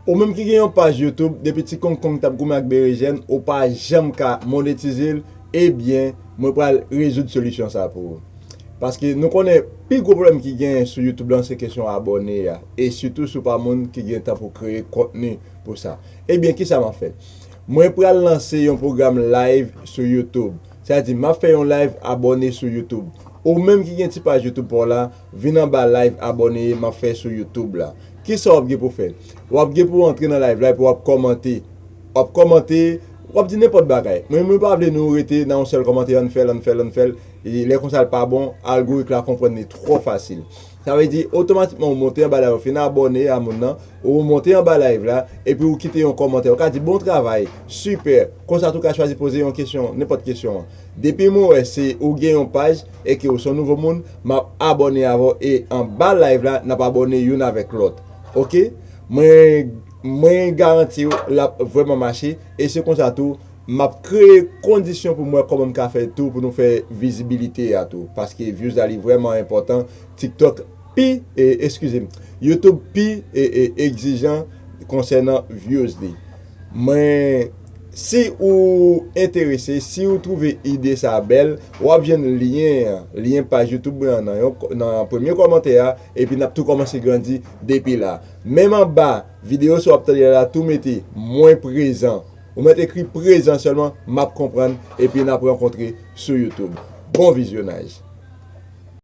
Ou menm ki gen yon paj YouTube depi ti kong kong tap goumen ak berejèn ou pa janm ka monetize l ebyen mwen pral rezoud solisyon sa pou ou paske nou konnen pi gwo pwoblèm ki genyen sou YouTube lan se kesyon abòne a e sitou si w pa moun ki gen tan pou kreye kontni pou sa ebyen kisa map fè mwen pral lanse yon pwogram live sou YouTube sa vle di map fè yon live abòne sou YouTube ou menm ki gen ti paj YouTube pa w la. Vin anba live abòne e map fè sou YouTube la. Kisa wap gen pou fè? Wap gen pou antre nan live la epi wap kòmante. Wap kòmante, wap di nenpòt bagay. Men mwen pa vle nou rete nan yon sèl kòmante ann fèl, ann fèl, ann fèl. Lè konsa l pa bon, algorik la konprann li twò fasil. Sa vle di otomatikman ou monte anba la, ou fin abòne a moun nan, ou monte anba live la epi ou kite yon kòmantè. Ou ka di bon travay, sipè. Konsa tou ka chwazi poze yon kesyon, nenpòt kesyon. Depi mwen wè se ou gen yon paj e ke ou son nouvo moun map abòne avè w e anba live la nap abòne youn avèk lòt ok mwen mwen garanti w lap vrèman mache e se konsa tou map kreye kondisyon pou m wè kòman m ka fè tou pou nou fè vizibilite a tou paske vyouz la li vrèman enpòtan tiktok pi eskize m youtube pi egzijan konsènan vyouz li mwen. Si ou enterese, si ou twouve ide sa a bèl, w ap jwenn lyen an, lyen paj YouTube mwen an nan premye kòmantè a, epi n ap tou kòmanse grandi depi la. Menm anba videyo sa w ap tande la, tou mete Mwen prezan. Ou mèt ekri prezan sèlman, m ap konprann, epi n ap rankontre sou YouTube. Bon vizyonaj!